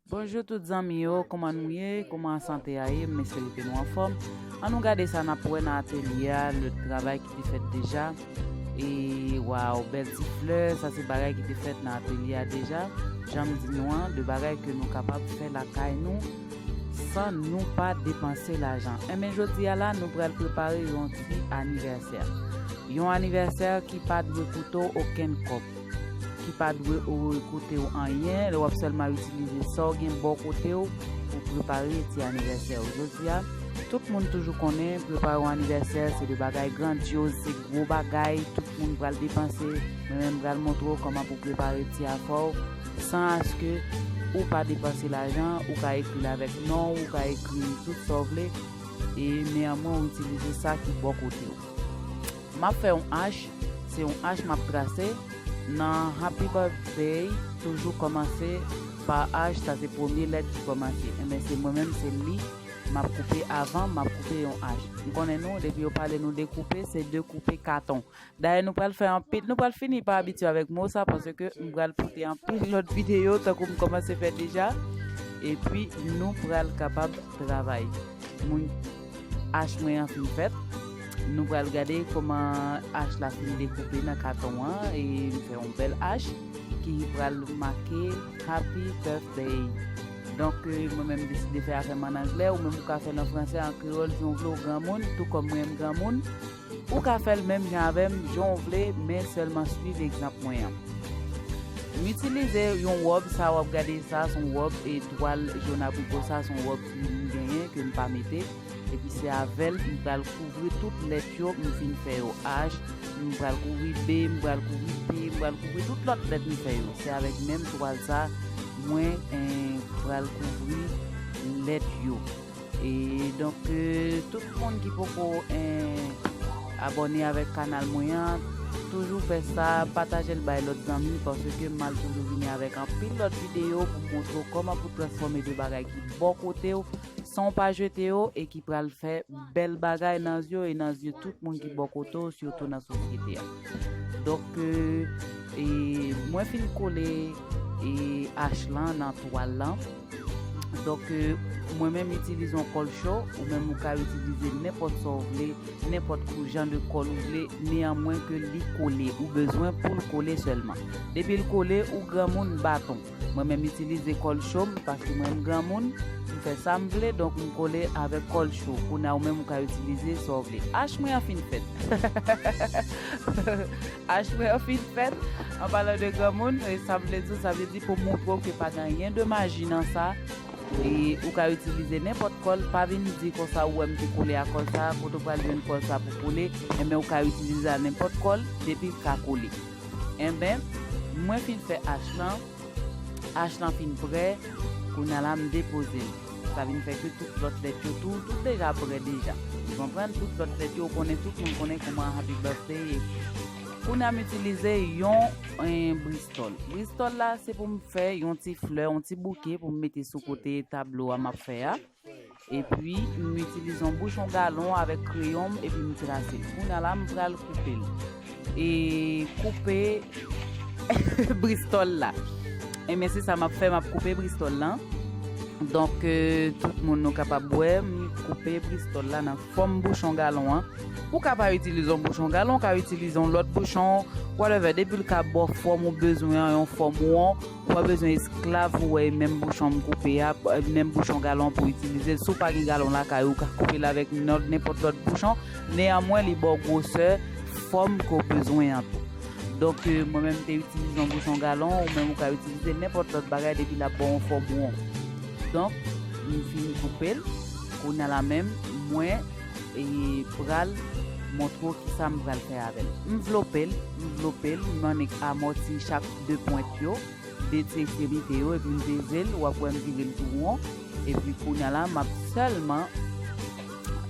Bonjou tout zanmi yo kouman nou ye kouman sante a ye m espere ke nou anfòm an nou gade sa nap wè nan atelye a le travay ki te fèt deja e waw bèl ti flè sa se bagay ki te fèt nan atelye a deja janm di nou an de bagay ke nou kapab fè lakay nou san nou pa depanse lajan enben jodi a la nou pral prepare yon ti anivèsè yon anivèsè ki pa dwe koute w okenn kòb. ki pa dwe oekoute w anyen lè w ap sèlman itilize sa w gen bò kote w pou w prepare ti anivèsè w. Jodi a, tout moun toujou konnen prepare yon anivèsè se de bagay grandyoz, se gwo bagay tout moun pral depanse. Mwen menm pral montre w kòman pou w prepare ti afè w san aske ou pa depanse lajan, ou ka ekri l avèk non w, ou ka ekri tout sa w vle e neyanmwen w itilize sa ki bò kote w. Map fè yon H, se yon H map trase nan Happy Birthday toujou kòmanse pa H sa se premye lèt ki kòmanse enben se mwen menm se li map koupe avan map koupe yon H m konnen nou depi yo pale nou de koupe se de koupe katon dayè nou pral fè anpil nou pral fini pa abitye avèk mo sa paske m pral pote anpil lòt videyo tankou m kòmanse fè deja epi nou pral kapab travay moun. Ash mwen an fin fèt. Nou pral gade koman ash la fin dekoupe nan katon an e m fè yon bèl ash ki pral make Happy Birthday. Donk mwen menm m deside fè afè m an anglè, ou menm ou ka fè l an fransè, an kreyòl, jan w vle w granmoun, tou kòm mwen m granmoun. Ou ka fèl menm jan avèm jan ou vle men sèlman swiv egzanp mwen an. M itilize yon wòb sa wap gade sa son wòb e twal jòn abriko sa son wòb ki m genyen ke m pa mete epi se avèl m pral kouvri tout lèt yo m fin fè yo H m pral kouvri B m pral kouvri P m pral kouvri tout lòt lèt m fè yo se avèk menm twal sa mwen pral kouvri lèt yo. E donk tout moun ki poko abone avek kanal mwen an toujou fè sa patajel bay lot zanmi paske mal toujou vini avek anpil lot video pou montre w koman pou transfome de bagay ki bo kote w san w pa jete yo e ki pral fè bel bagay nan zye w e nan zye tout moun ki bo kote w sitou nan sosyete a donk mwen fin kole e ash lan nan twal lan. Donk mwen menm itilize yon kòl cho, ou menm ou ka itilize nenpòt sa w vle, nenpòt kou jan de kòl ou vle, neyanmwen ke li kole, ou bezwen pou l kole sèlman. Depi l kole, ou granmoun baton. Mwen menm itilize kòl cho m, paske mwen m granmoun, m fè sa m vle, donk m kole avèk kòl cho. Kounye a ou menm ou ka itilize sa w vle. Ach mwen an fin fèt. Achwè an fin fèt, an palan de granmoun, e sa m vle di w, sa vle di pou montre w ke pa gen anyen de maji nan sa, e ou ka itilize nenpòt kòl, pa vin di konsa ou wè m te kole a kòl sa, kote w pral jwenn kòl sa pou kole, enben ou ka itilize a nenpòt kòl, depi l ka kole. Enben, mwen fin fè ash lan. H lan fin prè, kounya la m depoze l. Sa vin fè ke tout lòt lèt yo tou, tout deja prè deja. Ou konprann? Tout lòt lèt yo, ou konnen tout moun konnen kouman Happy Birthday ye. Kounya m itilize yon bristòl. Bristòl la, se pou m fè yon ti flè, yon ti bouke pou m mete sou kote tablo a m ap fè a. Epi, m itilize yon bouchon galon avèk kreyon m epi m trase. Kounya la, m pral koupe l. E koupe bristòl la. Enben, se sa m ap fè, m ap koupe bristòl la. Donk, tout moun nou kapab wè, m koupe bristòl la nan fòm bouchon galon an. Ou ka pa itilize yon bouchon galon, ou ka itilize yon lòt bouchon, whatever, depi l ka ba w fòm ou bezwen an, yon fòm won. Wap bezwen esklav pou wè menm bouchon m koupe a, menm bouchon galon pou itilize l, si w pa gen galon lakay ou ka koupe l avèk nenpòt lòt bouchon, neyanmwen li ba w gwosè, fòm ke w bezwen an tou. Donk mwen menm m te itilize yon bouchon galon, ou menm ou ka itilize nenpòt lòt bagay depi lap ba w yon fòm won. Donk m fin koupe l, kounya la menm mwen pral montre w kisa m pral fè avè l. M vlope l, m vlope l, m annik amòti chak. 2 pwent yo, 2 ti ekstremite yo epi m peze l, wap wè m vire l tou won, epi kounya la map sèlman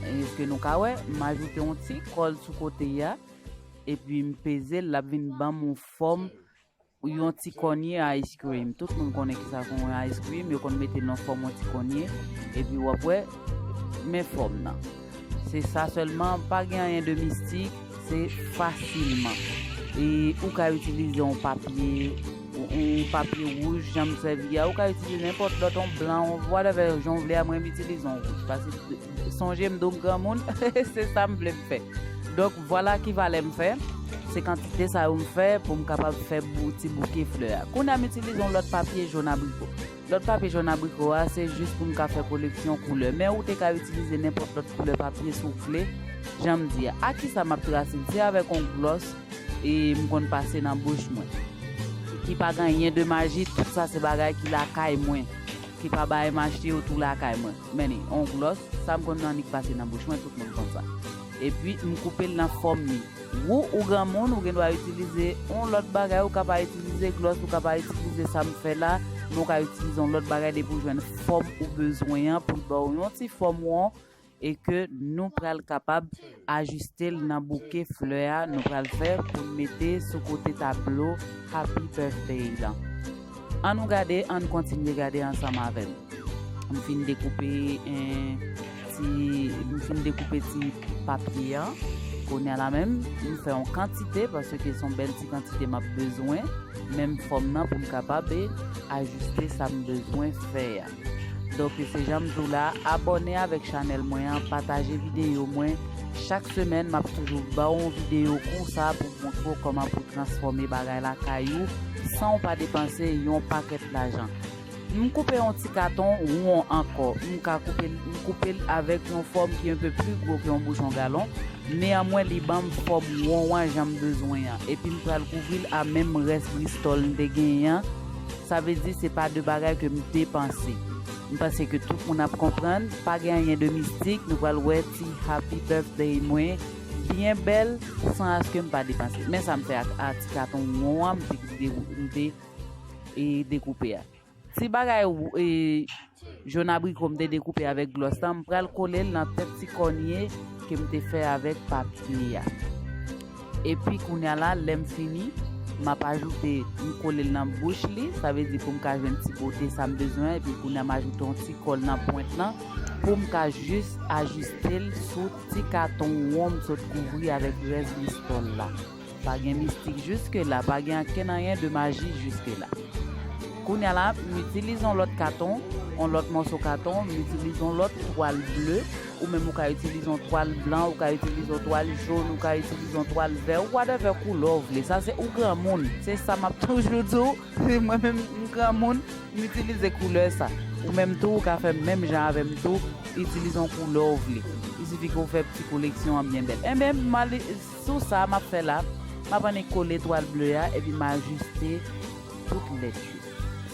eske nou ka wè, m ajoute yon ti kòl sou kote a, epi m peze l lap vin banm yon fòm yon ti kònye ice cream, tout moun konnen kisa pou yon ice cream, yo konn mete l nan fòm yon ti kònye, epi wap wè men fòm nan. Se sa sèlman, pa gen anyen de mistik, se fasilman. E ou ka itilize yon papye, yon papye wouj jan m sèvi a, ou ka itilize nenpòt lòt, yon blan, whatever, jan w vle a, mwen m itilize yon wouj. Paske sonje m di w m granmoun, se sa m vle m fè. Donk vwala ki valè m fè, se kantite sa yo m fè pou m kapab fè ti bouke flè a. Kounye a m itilize yon lòt papye jòn abriko. Lòt papye jòn abriko a se jis pou n ka fè koleksyon koulè men ou te ka itilize nenpòt lòt koulè papye si w vle, jan m di a. Ak kisa m ap trase l? Se avèk yon glòs e m konn pase nan bouch mwen. Ki pa gen anyen de maji, tout sa se bagay ki lakay mwen, ki pa bay m achte yo tou lakay mwen. Men li, yon glòs, sa m konn annik pase nan bouch mwen, tout moun konn sa. Epi m koupe l nan fòm li. Wou ou granmoun ou gendwa itilize yon lòt bagay ou ka pa itilize glòs ou ka pa itilize sa m fè la men ou ka itilize yon lòt bagay depi ou jwenn fòm ou bezwen an pou l ba w yon ti fòm won e ke nou pral kapab ajiste l nan bouke flè a nou pral fè pou n mete sou kote tablo Happy Birthday lan. An nou gade ann kontinye gade ansanm avèm m fin dekoupe ti m fin dekoupe ti papye an kounye la menm m fè yon kantite paske son bèl ti kantite map bezwen menm fòm nan poum kapab ajiste sam bezwen fè a. Donk se janm di w la abòne avèk chanèl mwen an pataje videyo mwen chak semèn map toujou ba w yon videyo konsa pou m montre w kòman pou transfòme bagay lakay ou san w pa depanse yon pakèt lajan m koupe yon ti katon won ankò m ka koupe l m koupe l avèk yon fòm ki enpe pli gwo ke yon bouchon galon neanmwen li ban m fòm won an jan m bezwen an epi m pral kouvri l a menm rès bristòl m te genyen an Sa vle di se pa de bagay ke m te panse. M panse ke tout moun ap konprann, pa gen anyen de mistik, nou pral wè ti Happy Birthday mwen byen bèl san aske m pa depanse. Men sa m fè ak a ti katon won an m te dekoupe a. Ti bagay. Jòn abriko m te dekoupe avèk glòs lan, m pral kole l nan tèt ti kònye ke m te fè avèk papye a. Epi kounya la, lè m fini, m ap ajoute, m kole l nan bouch li, sa vle di pou m ka jwenn ti bote sa m bezwen, epi kounya m ajoute yon ti kòl nan pwent lan pou m ka jis ajiste l sou ti katon won m sot kouvri avèk rès listòl la. Pa gen mistik jiske la, pa gen ankenn anyen de maji jiske la. Kounya la, m itilize yon lòt katon, yon lòt mòso katon, m itilize yon lòt twal ble, ou menm ou ka itilize yon twal blan, ou ka itilize yon twal jòn, ou ka itilize yon twal vè, ou whatever koulè w vle, sa se ou granmoun, se sa m ap toujou di w, si mwen menm m granmoun, m itilize koulè sa. Ou menm tou ou ka fè menm jan avè m tou, itilize yon koulè w vle. Isifi ke w fè pti koleksyon an byen bèl. Enben, m al. Sou sa, m ap fè la, m ap annik kole twal ble a epi m ajiste tout lèt yo.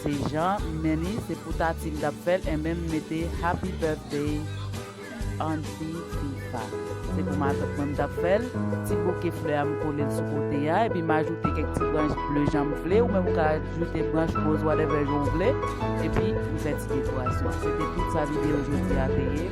Se jan m men li, se pou Tati m t ap fè l enben m mete Happy Birthday Aunty Fifa. Se pou matant mwen m t ap fè l, ti bouke flè a m kole l sou kote a epi m ajoute kèk ti branch ble jan m vle, ou menm ou ka ajoute branch roz whatever jan w vle epi m fè ti dekorasyon. Se te tout sa videyo jodi a te ye.